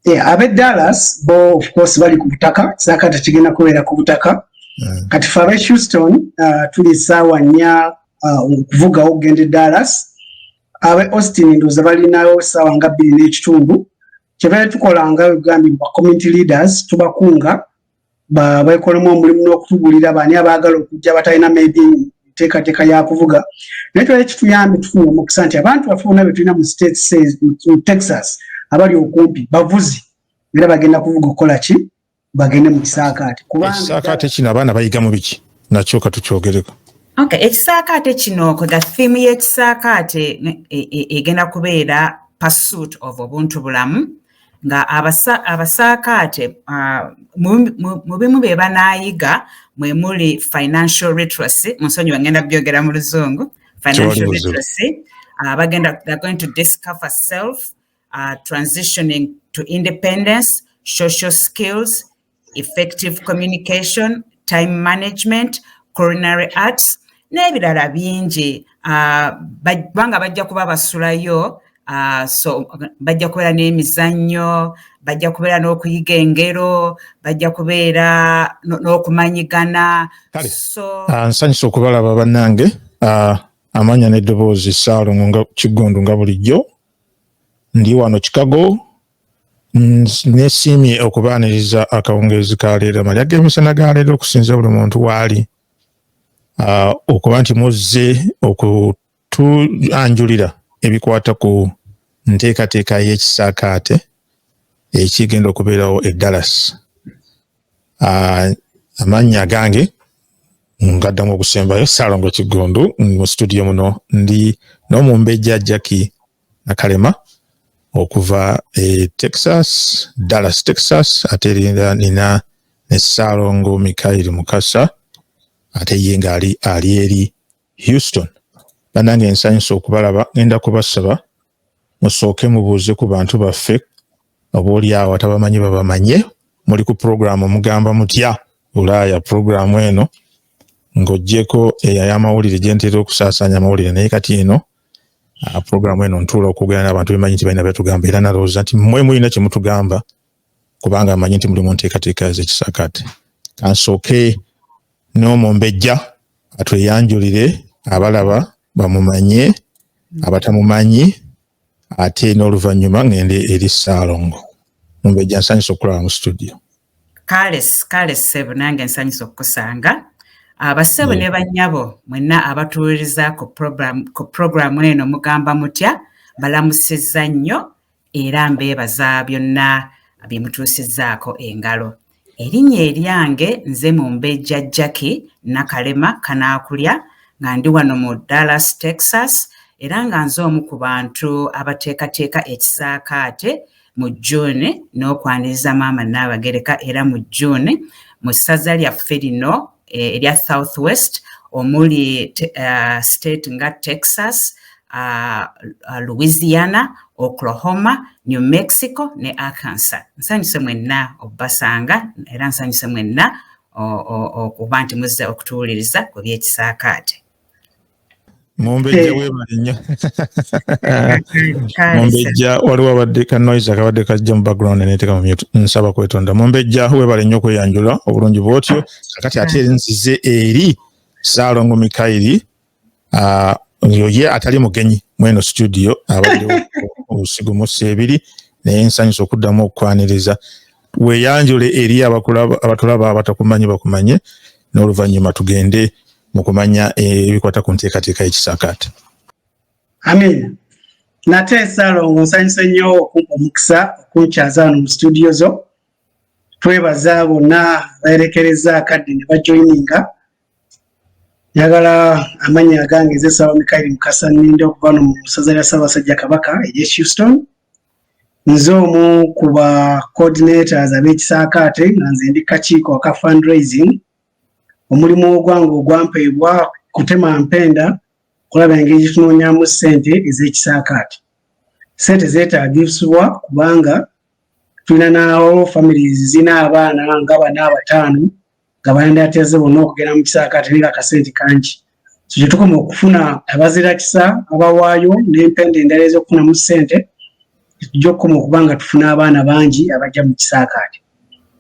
yeah, abe dallas bo of course bali ku butaka saka tekigenda kubeera ku butaka mm. kati fe abe houston uh, tuli saawa nnya uh, okuvugawo okugenda e dallas abe austin ndoza balinayo saawa nga bbiri n'ekitundu kyebaye tukolanga egambye mu bacommunity leaders tubakunga baekolamu omulimu n'okutugulira baani abaagala okujja abatalina maybe nteekateeka ya kuvuga naye twali kituyambi tufuna omukisa nti abantu baffe bona betulina mu states mu texas abali okumpi bavuzi era bagenda kuvuga okukola ki bagende mu kisaakaate kubangakisaakaate kino abaana bayigamu biki nakyo katukyogereko okay ekisaakaate kino the theme y'ekisaakaate e, e, egenda kubeera pursuit of obuntu bulamu nga abasaakaate mu bimu bye banaayiga mwe muli financial literacy munsonyiwa ngenda byogera mu luzungu financial literacy abagenda uh, they're going to discover self uh, transitioning to independence social skills effective communication time management coronary arts n'ebirala bingi ah, kubanga bajja kuba basulayo ah, so bajja kubeera n'emizannyo bajja kubeera n'okuyiga engero bajja kubeera n'okumanyigana ah, nsanyusa okubalaba bannange amanya n'eddoboozi saalongo nga kiggundu nga bulijjo ndi wano chicago Nesiimye okubaaniriza akawungeezi ka leero amalya g'emisana ga leero okusinza buli muntu waali ah, okuba nti muzze okutuanjulira ebikwata ku nteekateeka y'ekisaakaate ekigenda okubeerawo e Dallas. Ah, amannya agange ngaddamu okusembayo Salongo Kiggundu mu situdiyo muno ndi n'omumbejja Jackie Nakalema okuva e Texas, Dallas, Texas ate era nina ne Ssaalongo Mikayiri Mukasa ate ye ng'ali ali eri Houston. Bannange nsanyuse okubalaba, ngenda kubasaba musooke mubuuze ku bantu baffe oboolyawo atabamanyi babamanye. Muli ku pulogulaamu mugamba mutya Bulaaya pulogulaamu eno ng'oggyeko eyo ay'amawulire gye ntera okusaasaanya amawulire naye kati eno Ah, program eno ntuula okwogera n'abantu bemanyi nti balina byatugamba era nalowooza nti mwe mulina kyemutugamba kubanga amanyi nti mulimu nteekateeka zekisakaate kansooke n'omumbejja atweyanjulire abalaba bamumanye abatamumanyi ate n'oluvannyuma ngende eri saalongo mumbejja nsanyusa okulaba mu studio Kale kale ssebo nange nsanyuse okukusanga abassebo ah, ne bannyabo mwenna abatuwuliriza ku puroguramu eno mugamba mutya balamusizza nnyo era mbeebaza byonna bye mutuusizzaako engalo erinnya eryange nze mu mbejja jacki nakalema kanaakulya nga ndi wano mu dallas texas era nga nze omu ku bantu abateekateeka ekisaakaate mu June n'okwaniriza maama Nnaabagereka era mu June mu ssaza lyaffe lino eh, erya South West omuli uh, state nga Texas uh, uh, Louisiana, Oklahoma, New Mexico ne Arkansas. Nsanyuse mwenna okubasanga era nsanyuse mwenna okuba nti muzze okutuwuliriza ku by'ekisaakaate. mumbejja eh. webale nnyo mumbejja waliwo abadde ka noise akabadde kajja mu background neteeka mu mute nsaba kwetonda mumbejja webale nnyo okweyanjula obulungi bwotyo kakati ate eri nzize eri saalongo mikayiri ah, yoye atali mugenyi mweno studio abadde obusigo mu seebiri naye nsanyusa okuddamu okukwaniriza weyanjule eri abatulaba abatakumanyi bakumanye n'oluvannyuma tugende mu kumanya ebikwata ku nteekateeka y'ekisaakaate amiina nate salongo nsanyuse nnyo okumpa omukisa okunkyaza wano mu situdiyo zo twebaza bonna bayerekereza akadde ne bajoyininga njagala amannya agange ezesawa mikairi mukasa ninda okuva no mu ssaza lya ssaabasajja kabaka erye houston nze omu ku ba coordinators ab'ekisaakaate nga nze ndi kakiiko aka fundraising omulimu ogwange ogwampeebwa kutema mpenda kulaba engeri gyetunoonyamu ssente ez'ekisaakaati ssente zeetaagisibwa kubanga tulina naawo families zirina abaana nga bana abataano nga bayandateze bonna okugenda mu kisaakaati naye nga kasente kangi so kyetukoma okufuna abazirakisa abawaayo n'empenda endala ez'okufunamu ssente tujja okukoma okuba nga tufuna abaana bangi abajja mu kisaakaati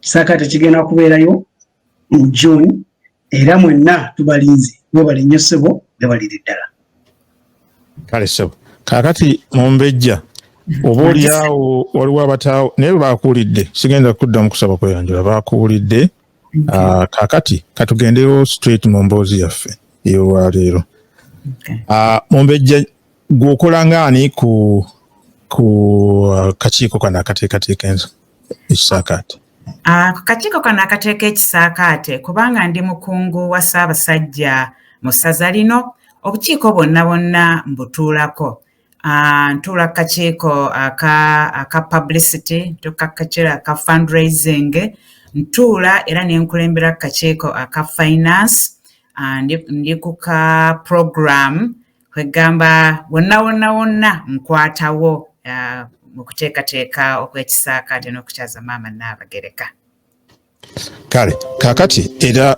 kisaakaati kigenda kubeerayo mu june era mwenna tubalinze webale nnyo ssebo webalire ddala kale ssebo kakati mumbejja oba olyawo waliwo abataawo naye baakuwulidde sigenda kuddamu kusaba kweyanjula baakuwulidde ah, kakati katugendewo straight mu mboozi yaffe eyolwaleero ah, mumbejja gweokola ngaani ku ku uh, kakiiko kano akateekateeka ensi ekisaakaate ah, akakiiko kano akateeka ekisaakaate kubanga ndi mukungu wa ssaabasajja mu ssaza lino obukiiko bwonna bwonna mbutuulako ah, ntuula ku kakiiko aka publicity ntuuka ku kakiiko aka fundraising ntuula era ne nkulembera ku kakiiko aka finance ah, ndi ku ka program kwegamba wonna wonna wonna nkwatawo uh, mu kuteekateeka okwekisaakaate n'okukyaza maama naabagereka kale kakati era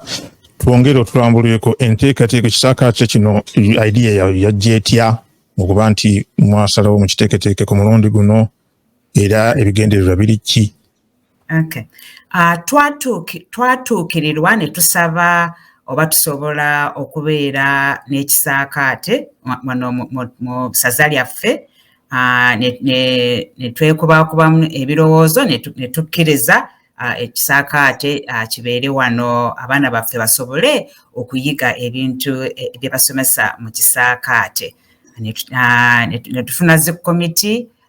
twongere otulambulireko enteekateeka ekisaakaate kino idea yayo yajja etya okuba nti mwasalawo mukiteeketeeke ku mulundi guno era ebigendererwa biri ki Okay. Uh, twatuukirirwa ne tusaba oba tusobola okubeera n'ekisaakaate wano mu saza lyaffe ah, ne twekubakubamu ebirowoozo ne tukkiriza ah, ekisaakaate ah, kibeere wano abaana baffe basobole okuyiga ebintu eh, bye basomesa mu kisaakaate ne tufuna zi komiti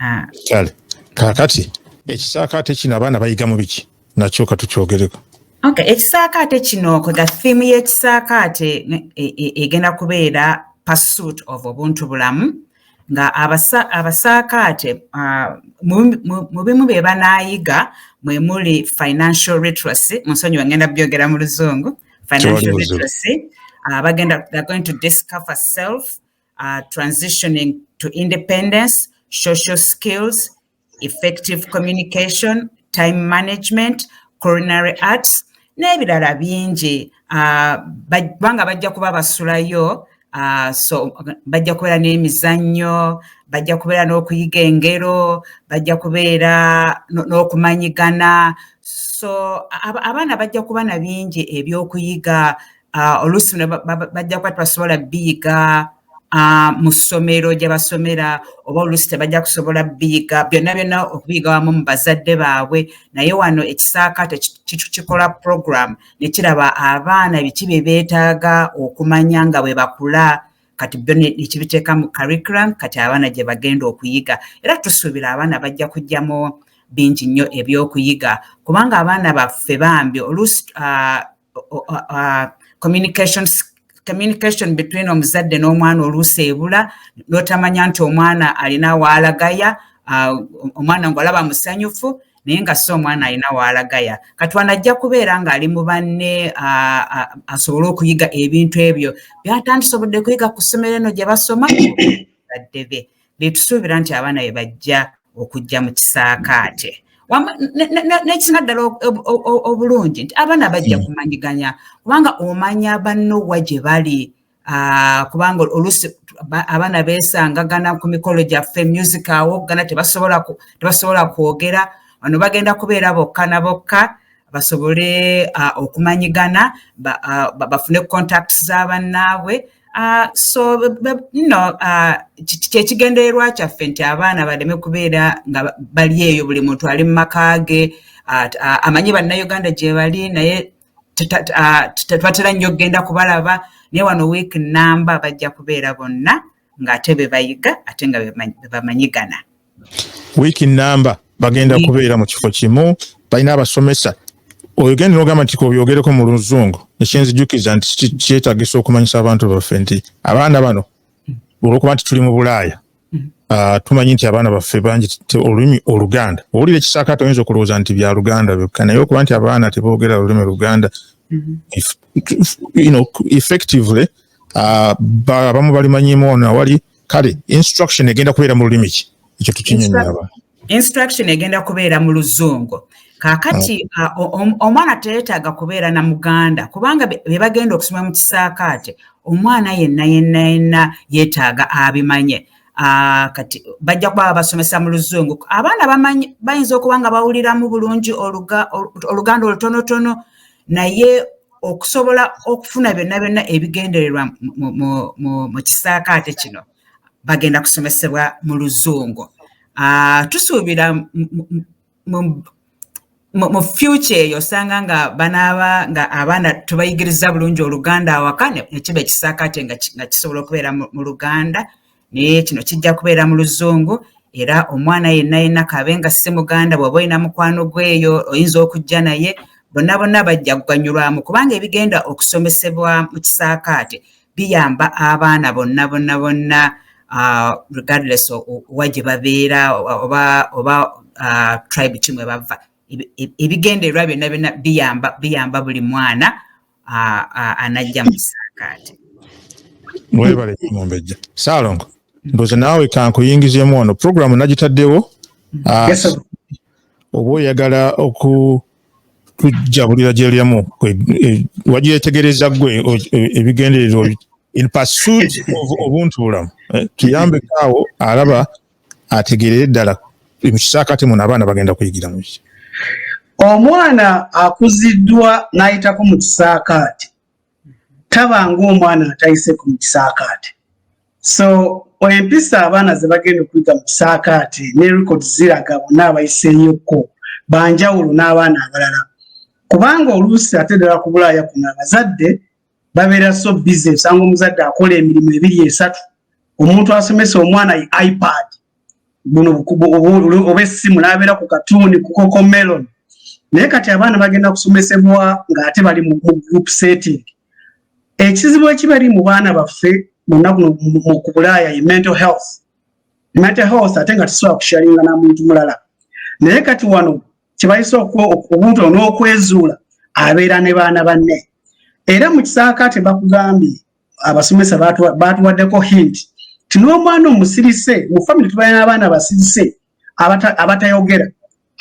ah. kale kakati ekisaakaate kino abaana bayigamu biki nakyo katukyogereko okay ekisaakaate kino ko the theme y'ekisaakaate e, e, egenda kubeera pursuit of obuntu bulamu nga abasaakaate ah, mu bimu bye banaayiga mwe muli financial literacy mu nsonyi wengenda byogera mu luzungu financial literacy uh, bagenda they're going to discover self uh, transitioning to independence, social skills, effective communication, time management, coronary arts, n'ebirala bingi uh, kubanga bajja kuba basulayo uh, so bajja kubeera n'emizannyo bajja kubeera n'okuyiga engero bajja kubeera n'okumanyigana so abaana bajja kuba na bingi ebyokuyiga ah, oluusi bajja kuba tebasobola biyiga ah, mu ssomero gye basomera oba oluusi tebajja kusobola biyiga byonna byonna okubiyiga wamu mu bazadde baabwe naye wano ekisaakaate kikola program ne kiraba abaana biki bye beetaaga okumanya nga bwe bakula kati byo nekibiteeka mu curriculum kati abaana gye bagenda okuyiga era tusuubira abaana bajja kujjamu bingi nnyo ebyokuyiga kubanga abaana baffe bambi oluusi ah, uh, communication communication between omuzadde n'omwana oluusi ebula n'otamanya nti omwana alina waalagaya uh, omwana ng'olaba musanyufu naye nga si omwana alina waalagaya katwana ajja kubeera ng'ali mu banne uh, uh, asobole okuyiga ebintu ebyo byatandise obudde kuyiga ku ssomero eno gye basoma badde be betusuubira nti abaana be bajja okujja mu kisaakaate nekisina ddala obulungi nti abaana bajja hmm. kumanyiganya kubanga omanya bannowa gye bali ah, kubanga olusi abaana besangagana ku mikolo gyaffe music awoggana tebasobola kwogera ono bagenda kubeera bokka na bokka basobole ah, okumanyigana ah, bafune contacts za bannaabwe Uh, so you know uh, kyekigendererwa kyaffe nti abaana baleme kubeera nga bali eyo buli muntu ali mu maka ge uh, uh, amanyi bannayuganda gyebali naye tebatera nnyo okugenda kubalaba naye wano wiiki namba bajja kubeera bonna ng'ate bebayiga ate nga bebamanyigana wiiki namba bagenda kubeera mu kifo kimu balina abasomesa oyogenda nogamba nti kobyogereko mu luzungu ekyenzijukiza nti kyetagisa okumanyisa abantu baffe nti abaana bano olwokuba nti tuli mu bulaaya ah, tumanyi nti abaana baffe bangi olulimi oluganda owulira ekisakaate oyinza okulowooza nti bya luganda byokka naye okuba nti abaana tebogera olulimi luganda mm-hmm. effectively ah, abamu balimanyimu ono awali kale instruction egenda kubeera mu lulimi ki ekyo tukinyonyaba instruction egenda kubeera mu luzungu kakati mm. omwana teyetaaga kubeera na muganda kubanga be bagenda okusoma mu kisaakaate omwana yenna yenna yenna yetaaga abimanye Ah, kati bajja kuba babasomesa mu luzungu abaana bamanyi bayinza okuba nga bawuliramu bulungi oluganda olutonotono naye okusobola okufuna byonna byonna ebigendererwa mu kisaakaate kino bagenda kusomesebwa mu luzungu ah, tusuubira mu future eyo osanga nga banaaba nga abaana tubayigiriza bulungi oluganda awaka nekiba ekisaakaate nga kisobola okubeera mu luganda naye kino kijja kubeera mu luzungu era omwana yenna yenna kaabe nga si muganda bw'oba olina mukwano gweyo oyinza okujja naye bonna bonna bajja kuganyulwamu kubanga ebigenda okusomesebwa mu kisaakaate biyamba abaana bonna bonna bonna uh, regardless owa gye babeera oba oba uh, tribe kimwe bava ebigendererwa byonna byonna biyamba biyamba buli mwana anajja mu kisaakaate mwebale mumbejja saalongo ndoze naawe kankuyingizemu wano programu nagitaddewo mm-hmm. oba oyagala oku tujjabulira gyeryamu e, wajetegereza gwe e, ebigendererwa in pursuit of obuntu bulamu eh, tuyambeko awo alaba ategeerere ddala mu kisaakaate muno abaana bagenda kuyigira mu ki omwana akuziddwa n'ayitako mu kisaakaate taba ng'omwana atayiseko mu kisaakaate so empisa abaana ze bagenda okuyiga mu kisaakaate ne rekodi ziraga bonna abayiseeyokko banjawulo n'abaana abalala kubanga oluusi ate ddala ku bulaaya kuno abazadde babeera so busy osanga omuzadde akola emirimu ebiri esatu omuntu asomesa omwana yi ipad buno oba essimu nabeera ku katuuni ku coco melon naye kati abaana bagenda kusomesebwa ng'ate bali mu group setting ekizibu ekibali mu baana baffe munaku mu kubulaaya ye mental health mental health ate nga tusobola kusharinga na muntu mulala naye kati wano kyebayise omuntu ono okwezuula abeera ne baana banne era mu kisaakaate bakugambye abasomesa baatuwaddeko hint ti n'omwana omusirise mu famiry tubaye n'abaana basirise abatayogera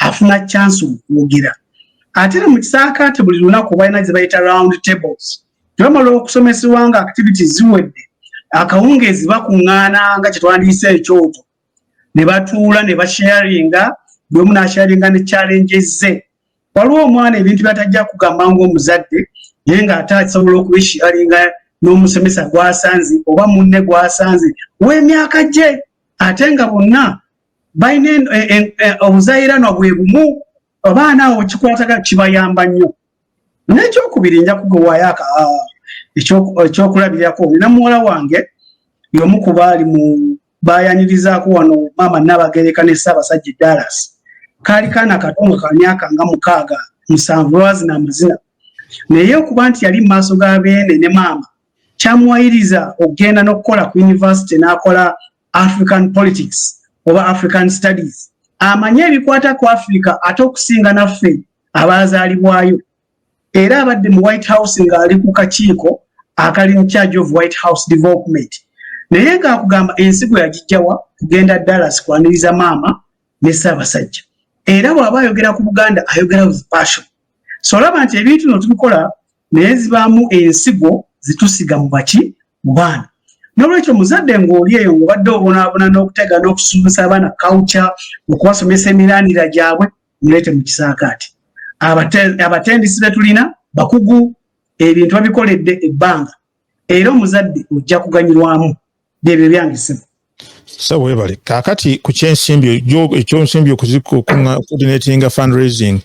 afuna chance okwogera ate era mu kisaakaate buli lunaku balina ze bayita round tables tebamala okusomesebwa nga activities ziwedde akawungeezi bakuŋŋaana nga kyetwandiyise ekyoto ne batuula ne basharinga buli omu nasharinga ne challenge ze waliwo omwana ebintu byatajja kugamba ngaomuzadde naye ng'ate asobola okubisharinga n'omusomesa gwasanze oba munne gwasanze w'emyaka gye ate nga bonna balina e- e- e- obuzayiranwa bwe bumu abaana awo kikwataga kibayamba nnyo nekyokubiri nja kugewaayo ekyokulabirako olina muwala wange yomu kuba ali mu bayanirizaako wano maama Nnaabagereka ne Ssaabasajja Dallas kaali kaana kato nga ka myaka nga mukaaga musanvu lwazina amazina naye okuba nti yali mu maaso ga beene ne maama kyamuwayiriza okugenda n'okukola ku yunivasite n'akola african politics oba african studies amanye ebikwata ku afirika ate okusinga naffe abaazaalibwayo era abadde mu white house ng'ali ku kakiiko akali in charge of white house development naye ng'akugamba ensi gwe yagijjawa kugenda dallas kwaniriza maama ne ssaabasajja era bw'aba ayogera ku buganda ayogera with passion so olaba nti ebintu no tubikola naye zibaamu ensigo zitusiga mu baki mu baana nolwekyo muzadde ng'oli eyo ng'obadde obonaabona n'okutega n'okusuubusa abaana culture okubasomesa emiranira gyabwe mulete mu kisaakaati abatendisi betulina bakugu ebintu babikoledde ebbanga era omuzadde ojja kuganyirwamu byebyo byange ssebo sa webale kaakati ku kyensimbi ekyonsimbi okuzikudinatinga fundraising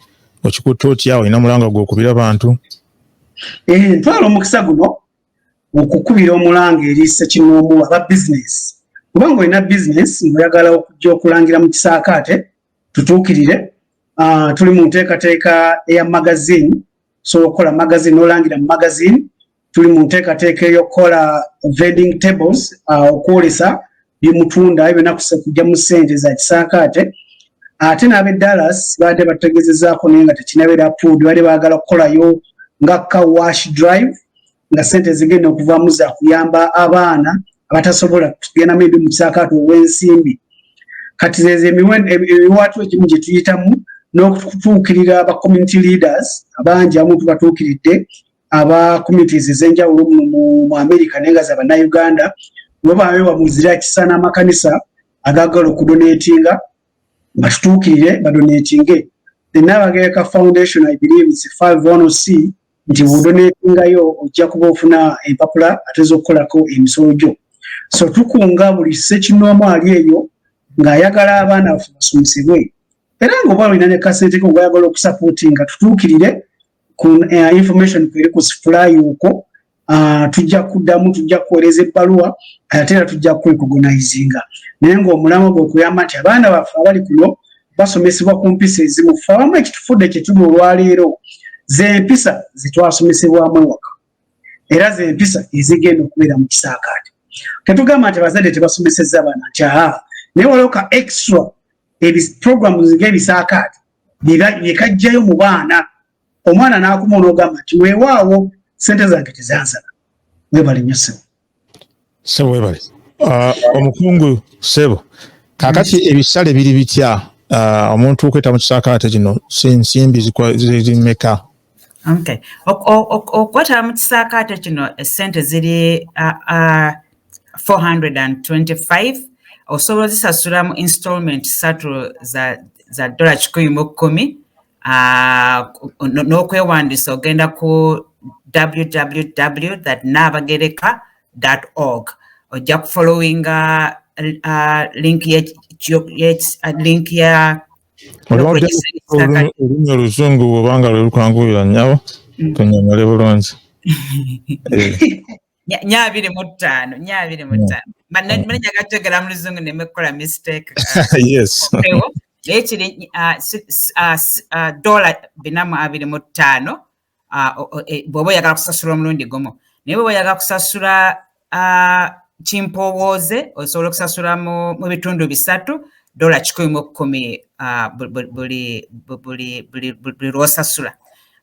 okikutte otya olina mulanga gwokubira bantu eh, ntwala omukisa guno okukubira omulanga eri sekinoomu aba bizinesi kubanga olina bizinesi ngaoyagala okujja okulangira mu kisaakaate tutuukirire uh, tuli mu nteekateeka eya magazine osobola okukola magazine nolangira mu magazine tuli mu nteekateeka eyokukola vending tables uh, okwolesa byemutunda ebyo nakusa kujja mu sente za kisaakaate ate n'ab'e dallas baadde bategezezaako naye nga tekinabeera puudi baadde baagala kukolayo nga ka wash drive nga sente ezigenda okuvamu zakuyamba abaana abatasobola kugenda maybe mukisaakaatu ow'ensimbi kati zezo emiwaatwa egimu gye tuyitamu n'okutuukirira aba community leaders abangi abamu tubatuukiridde aba communities ez'enjawulo muno mu america naye nga zabannauganda webawewa muzira kisa n'amakanisa agagala okudonatinga batutuukirire badonatinge the nabagayaka foundation i believe is five one c nti bwodonetingayo ojja kuba ofuna empapula ate zokukolako emisolo gyo so tukunga buli sekinoomu ali eyo ng'ayagala abaana baffe basomesebwe era ngaoba olina ne kasente ko ngayagala okusapooti nga tutuukirire ku eh, information kweri ku sifulayi okwo ah, tujja kuddamu tujja kuweereza ebbaluwa ate era tujja kukwekugonizinga naye ngaomulamu gwe okuyamba nti abaana baffe abali kuno basomesebwa ku mpisa ezimu fe abamu ekitufudde kyetuli olwaleero zempisa zetwasomesebwamu ewaka era zempisa ezigenda okubeera mu kisaakaate tetugamba nti abazadde tebasomeseza abaana nti aa naye waliwo ka extra ebiprogramu nga ebisaakaate byekajjayo mu baana omwana n'akuma onoogamba nti weewaawo sente zange tezansaba webale nyo sebo sebo webale uh, omukungu sebo kakati mm. ebisale biri bitya uh, omuntu okweta mu kisaakaate kino sinsimbi zimeka okay okwetaba mu kisaakaate kino esente ziri uh, 425 osobola ozisasula mu installment satu za, za dola kikumi mu kkumi n'okwewandiisa ogenda ku www naabagereka org ojja kufollowinga link ya olulimi oluzungu obanga lwelukwanguyira nyabo tunyonyole bulungi nya abiri mu ttaano nya abiri mu ttaano manenya gategera mu luzungu nemekola mistake naye kiri dola binamu abiri mu ttaano e, bwoba oyagala kusasula omulundi gumu naye bwoba oyagala kusasula kimpowooze osobola okusasula mu bitundu bisatu dola kikumi mu kumi buli lwosasula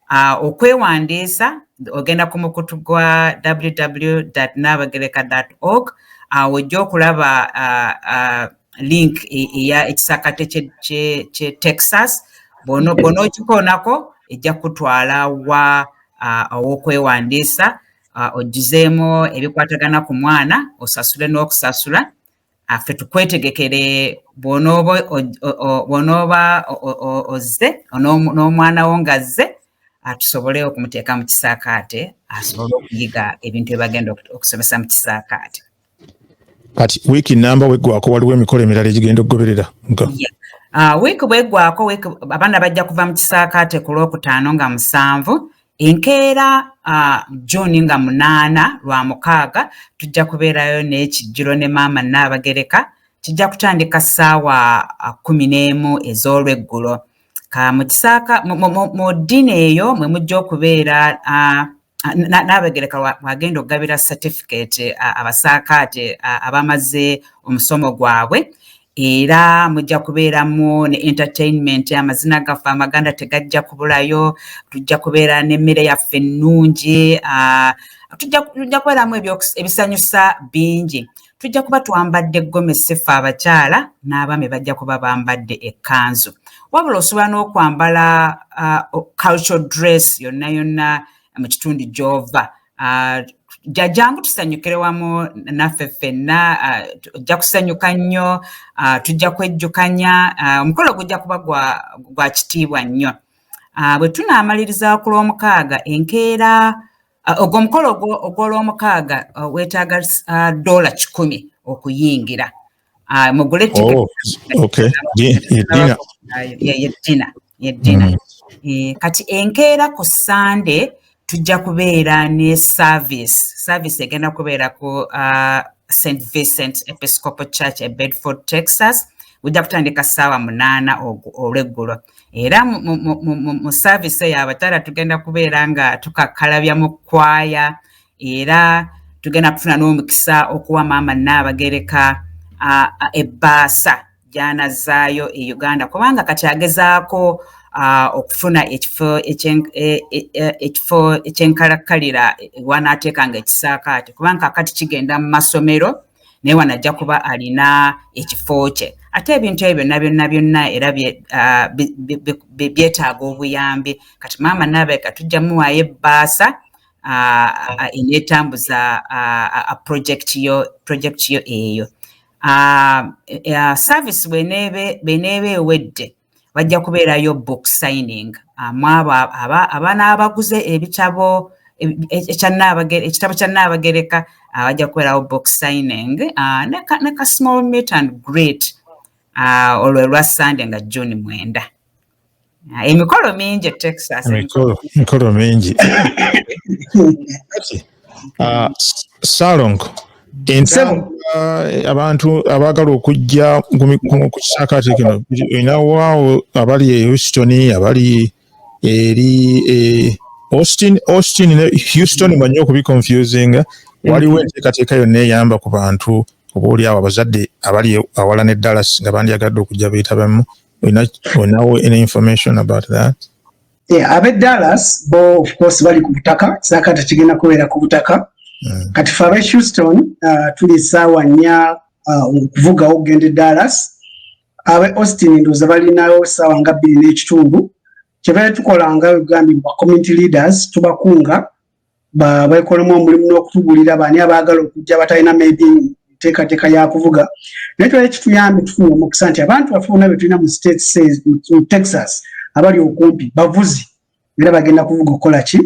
Uh, okwewandiisa ogenda ku mukutu gwa www nabagereka org awo uh, ojja okulaba uh, uh, link e, eya ekisakate kye texas bwonokikoonako ejja kutwala wa uh, owokwewandiisa uh, ojjuzeemu ebikwatagana ku mwana osasule n'okusasula affe tukwetegekere bw'onooba ozze n'omwana wo ng'azze tusobole okumuteeka mu kisaakaate asobole okuyiga ebintu ebagenda okusomesa mu kisaakaate kati wiiki namba weggwako waliwo emikolo emirala egigenda okugoberera ah, wiiki bweggwako abaana bajja kuva mu kisaakaate ku lwokutaano nga musanvu Enkeera June nga munaana lwa mukaaga tujja kubeerayo n'ekijjulo ne maama Nnaabagereka. Kijja kutandika ssaawa kkumi n'emu ez'olweggulo. Ka mu kisaaka mu ddini eyo mwe mujja okubeera Nnaabagereka w'agenda okugabira certificate abasaakaate abamaze omusomo gwabwe. Era mujja kubeeramu ne entertainment, amazina gaffe amaganda tegajja kubulayo, tujja kubeera n'emmere yaffe ennungi, ah, tujja kubeeramu ebisanyusa bingi. tujja kuba twambadde gomesi ffe abakyala n'abaami bajja kuba bambadde ekkanzu wabula osobola n'okwambala uh, cultural dress yonna yonna mu kitundu gy'ova Ah, jajjangu tusanyukire wamu naffe ffenna ah, ojja kusanyuka nnyo ah, tujja kwejjukanya omukolo gujja kuba gwa kitiibwa nnyo bwe tunaamaliriza ku lwomukaaga enkeera ogwomukolo ogwolwomukaaga weetaaga doola kikumi okuyingira Ah, mugule oh, yeddina yeddina mm. eh, kati enkeera ku sande tujja kubeera ne service service egenda kubeera ku ah, st vincent episcopal church e bedford texas ujja kutandika ssaawa munaana olweggulo era mu service eyo abatala tugenda kubeera nga tukakkalabya mu kwaya era tugenda kufuna n'omukisa okuwa maama nnaabagereka ebbaasa gyanazzaayo e uganda kubanga kati agezaako okufuna ekifo e, e, ekifo ekyenkalakkalira wanaateeka nga ekisaakaate kubanga kakati kigenda mu masomero naye wano ajja kuba alina ekifo kye ate ebintu ebyo byonna byonna byonna era byetaaga obuyambi kati maama naabaeka tujja muwaayo ebbaasa eneetambuza projekiti yo projekiti yo eyo service bweneeba ewedde bajja kubeerayo book signing mwabo abaana abaguze ebitabo ekitabo kya nnaabagereka bajja kubeerawo book signing ne ka small meet and great olwo lwa sande nga june mwenda Ah, emikolo mingi e texas emikolo mingi ah, salongo abantu abaagala okujja ku kisaakaate kino inawaawo abali e houston abali eri e austin austin ne houston manyi okubiconfusinga waliwo enteekateeka yonna eyamba ku bantu oba oliawo abazadde abali awala ne dallas nga bandyagadde okujja beetabamu we not we know any information about that yeah abe dallas bo of course bali ku butaka saka tekigenda kubeera ku butaka mm. kati fa abe houston uh, tuli sawa nya uh, okuvuga uh, ogende dallas abe austin ndoza bali nayo sawa nga bili n'ekitundu kyebale tukola nga ugambye ba community leaders tubakunga bwekolamu omulimu n'okutugulira baani abaagala okujja batalina maybe nteekateeka ya kuvuga naye twali kituyambi tufuna omukisa nti abantu baffe bona be tulina mu states mu texas abali okumpi bavuzi era bagenda kuvuga okukola ki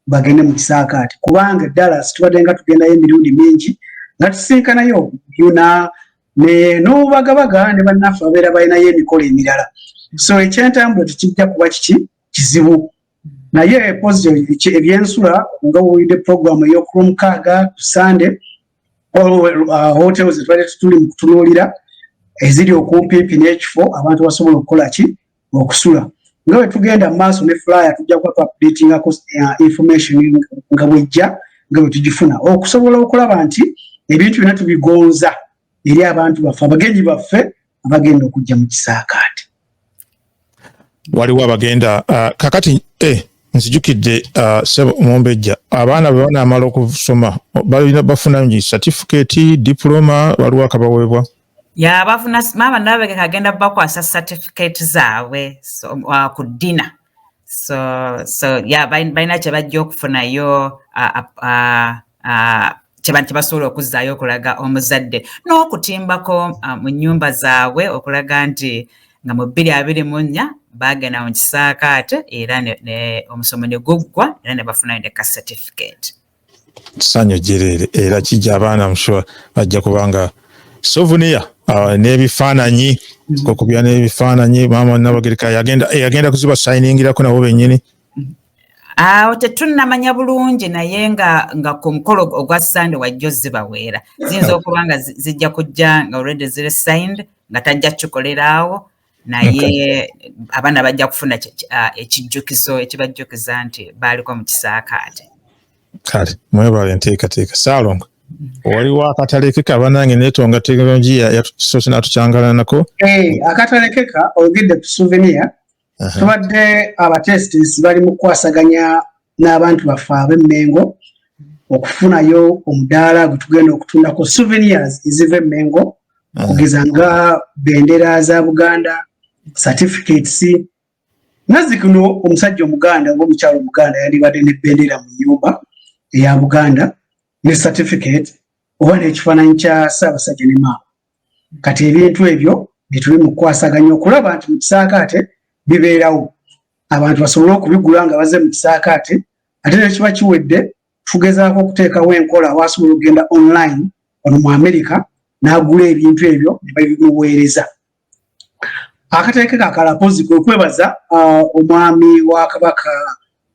bagende mu kisaakaati kubanga dallas tubadde nga tugendayo emirundi mingi nga tusinkanayo yuna n'obubagabaga ne bannaffe babeera balinayo emikolo emirala so ekyentambula tekijja kuba kiki kizibu naye epozi ebyensula nga wowulidde puroguramu eyokulwomukaaga ku sande uh, hotel zetwali tutuli mu kutunuulira eziri okumpiipi n'ekifo abantu basobola okukola ki okusula nga bwe tugenda mu maaso ne fulaya tujja kuba tuapdatingako uh, information nga bwejja nga bwe tugifuna okusobola okulaba nti ebintu byona tubigonza eri abantu baffe abagenyi baffe abagenda okujja mu kisaakaate waliwo abagenda uh, kakati eh, nzijukidde uh, sebo omumbejja abaana bwe banaamala okusoma balina bafuna ngi satifikeeti dipuloma waliwo akabaweebwa yabafuna maama nabegeka agenda bakwasa satifikeeti zaabwe uh, ku ddina so so ya balina kye bajja okufunayo kye basobola okuzzaayo okulaga omuzadde n'okutimbako mu nnyumba zaabwe okulaga nti nga mu bbiri abiri mu nnya baagenda mu kisaakaate era omusomo ne guggwa era ne bafunayo ne ka certificate sanyu jereere era kijja abaana msure bajja kubanga souvenir uh, n'ebifaananyi mm. kokubya n'ebifaananyi maama nabagereka yagenda eh, yagenda kuziba sayiningirako nabo bennyini awo tetunnamanya bulungi naye nga nga ku mukolo ogwa sande wajja ozibaweera ziyinza okuba nga zijja kujja nga olredi ziri signed nga tajja kukikoleraawo naye abaana bajja kufuna ah, ekijjukizo ekibajjukiza nti baaliko mu kisaakaate kale mwebale enteekateeka saalongo waliwo akatalekeka banange netonga tekinologiya yatusoose natukyangalanako eh, akatalekeka ogedde ku souvenir tubadde abatestis bali mu kukwasaganya n'abantu baffe ab'e Mmengo okufunayo omudaala gwe tugenda okutundako souvenirs eziva e Mmengo mm. okugeza nga bendera za Buganda, certificates nazi kuno omusajja omuganda oba omukyalo omuganda yandibadde ne bendera mu nyumba eya Buganda ne certificate oba n'ekifaananyi kya Ssaabasajja ne maama kati ebintu ebyo byetuli mu kukwasaganya okulaba nti mu kisaakaate bibeerawo abantu basobole okubigula nga baze mu kisaakaate ate nekiba kiwedde tugezaako okuteekawo enkola wasobola okugenda online ono mu amerika n'agula ebintu ebyo ne babimuweereza akateeke kakalapozi kwe kwebaza uh, omwami wa kabaka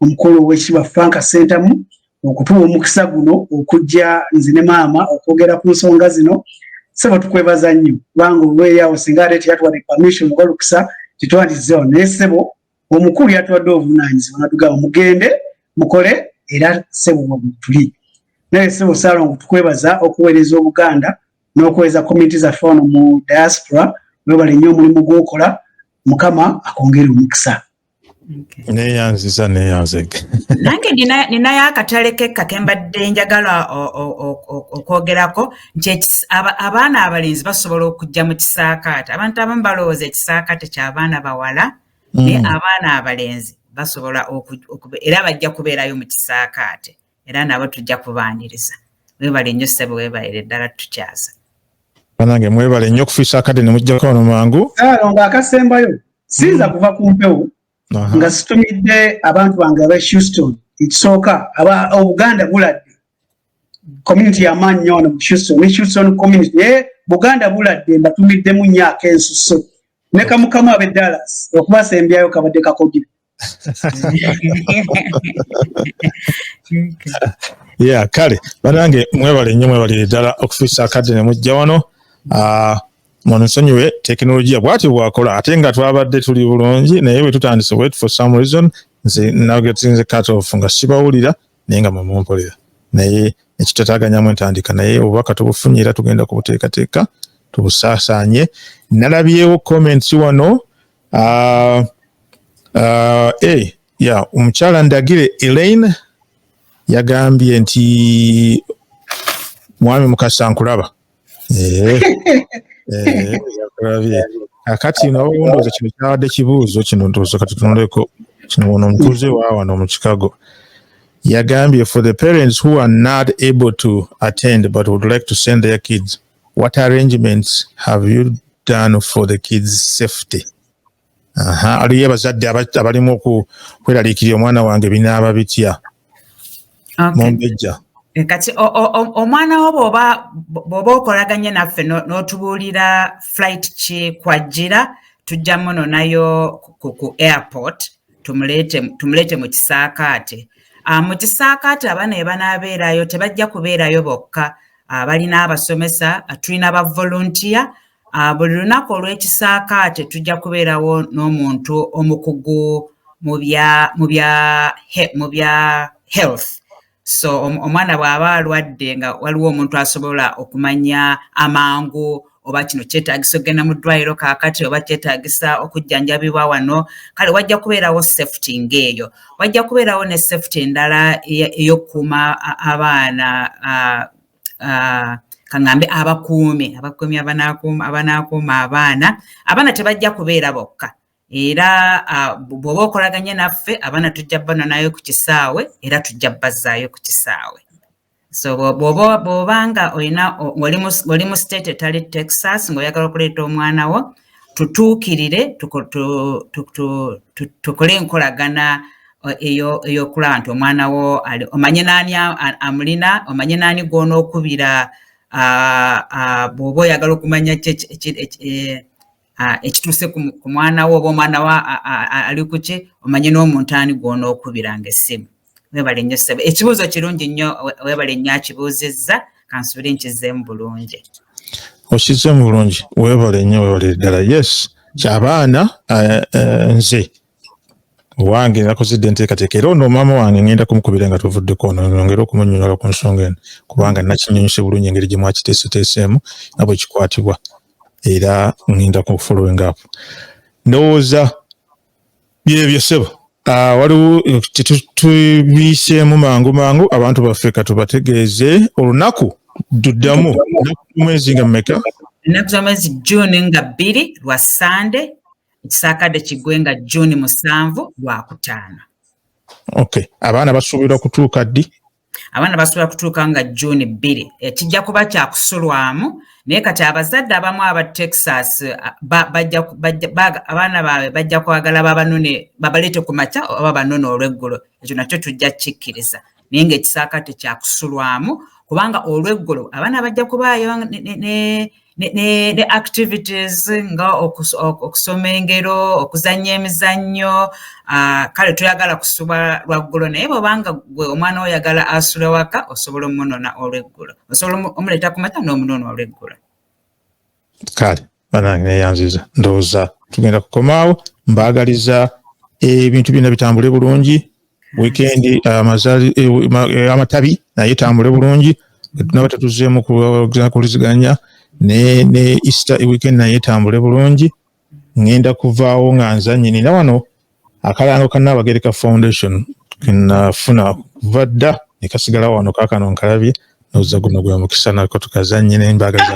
omukolo owekitiibwa frank sentamu okutuwa omukisa guno okujja nze ne maama okwogera ku nsonga zino sebo tukwebaza nnyo kubanga olweyawo singa ate teyatuwadde permission oba lukisa tetwandizewo naye sebo omukulu yatuwadde obuvunanyizibwa natugamba mugende mukole era sebo wabutuli naye sebo salongo tukwebaza okuweereza obuganda n'okuweereza community zaffe ono mu diaspora webale nnyo omulimu gwokola mukama akwongere omukisa neyanziza neyanzege nange ninayo akatale kekka kembadde njagala okwogerako nti abaana abalenzi basobola okujja mu kisaakaate abantu abamu balowooza ekisaakaate kyabaana bawala mm. naye abaana abalenzi basobola era bajja kubeerayo mu kisaakaate era nabo tujja kubaaniriza webale nnyo ssebo webalire ddala tukyaza banange mwebale nnyo okufiisa akadde nemujjako ono mangu alonga akasembayo siyinza mm. kuva ku mpewo nga situmidde abantu bange aba houston ekisooka aba obuganda buladde community yamaanyi nyo ono mu houston ne houston community naye buganda buladde mbatumiddemu nyo akensuso ne kamukamu abe dallas okubasembyayo kabadde kakogira yeah kale banange mwebale nnyo mwebalire ddala okufiisa akadde ne mujja wano ah, munsonyiwe tekinologiya bwati bwakola ate nga twabadde tuli bulungi naye bwe tutandise wet for some reason nze nagetinze cut off nga sibawulira naye nga mwemumpulira naye ekitataganyamu entandika naye obubaka tubufunye era tugenda kubuteekateeka tubusaasaanye nalabyewo comments wano uh, uh, hey, eh, yeah, omukyala ndagire Elaine yagambye nti mwami mukasa nkulaba eh, eh, yakulabye akati nawe ndowooza kino kyabadde kibuuzo kino ndowooza katutunuleko kino ono omutuuze waawano mu chicago yagambye for the parents who are not able to attend but would like to send their kids What arrangements have you done for the kids safety? Aha, aliyo abazadde abalimu okweraliikirira omwana wange binaaba bitya? Mumbejja. Eh, kati omwana wo bwoba bwoba okolaganye naffe n'otubuulira flight ki kwajjira tujja muno nayo ku airport tumuleete mu kisaakaate ah, mu kisaakaate abaana ebanabeerayo tebajja kubeerayo bokka abalina ah, abasomesa ah, tulina ba volunteer ah, buli lunaku olw'ekisaakaate tujja kubeerawo n'omuntu omukugu mu bya health so omwana bw'aba alwadde nga waliwo omuntu asobola okumanya amangu oba kino kyetagisa okugenda mu ddwaliro kaakati oba kyetagisa okujjanjabibwa wano kale wajja kubeerawo safety ng'eyo wajja kubeerawo ne safety endala ey'okukuuma abaana kaŋambe abakuumi abakuumi abanaakuuma abaana abaana tebajja kubeera bokka era bw'oba okolaganye naffe abaana tujja banonayo ku kisaawe era tujja bazzaayo ku kisaawe so bw'oba nga olina oli mu state etali texas ng'oyagala okuleeta omwana wo tutuukirire tukole enkolagana eyokulaba nti omwana wo omanye naani amulina omanye naani gwonookubira bw'oba oyagala okumanya ekituuse ku mwana wo oba omwana wa ali kuki omanye n'omuntu ani gwona okubiranga essimu webale nnyo ssebo ekibuuzo kirungi nnyo webale nnyo akibuuzizza kansubire nkizeemu bulungi okizeemu bulungi webale nnyo webale ddala yes kyabaana eh, eh, nze owange nakozedde enteekateeka era ono maama wange ngenda kumukubira nga tuvuddeko ono nongere okumunyonyola ku nsonga eno kubanga nakinyonyose bulungi engeri gye mwakiteeseteeseemu nga bwe kikwatibwa era ngenda ku following up ndowooza byebyo ssebo ah, waliwo tubiiseemu mangu mangu abantu baffe katubategeeze olunaku duddamu mwezi nga mumeka ennaku z'omwezi june nga bbiri lwa sande ekisaakadde kiggwe nga juuni musanvu lwakutaano okay abaana basuubirwa kutuuka ddi abaana basobola kutuuka nga juuni bbiri ekijja eh, kuba kyakusulwamu naye kati abazadde abamu aba texas eh, abaana baabwe bajja kwagala babanone babaleete ku makya oba banone olweggulo ekyo nakyo tujja kikkiriza naye ng'ekisaakaate kyakusulwamu kubanga olweggulo abaana bajja kubaayo ne activities nga okusoma engero okuzannya emizannyo ah, kale toyagala kusuba lwaggulo naye bwobanga gwe omwana oyagala asula waka osobola omunona olweggulo osobola omuleeta ku mata n'omunona olweggulo kale banange neyanziza ndowooza tugenda kukomaawo mbaagaliza ebintu byonna bitambule bulungi wikendi amazali eh, eh, eh, amatabi naye tambule bulungi naba tetuzeemu kuwuliziganya ne easter weekend naye tambule bulungi ngenda kuvaawo nga nza nyini na wano akalango ka Nnaabagereka Foundation kenafuna kuva dda ne kasigala wano kaakano nkalabye noza guno gwe mukisa nako tukazannye n'embaga za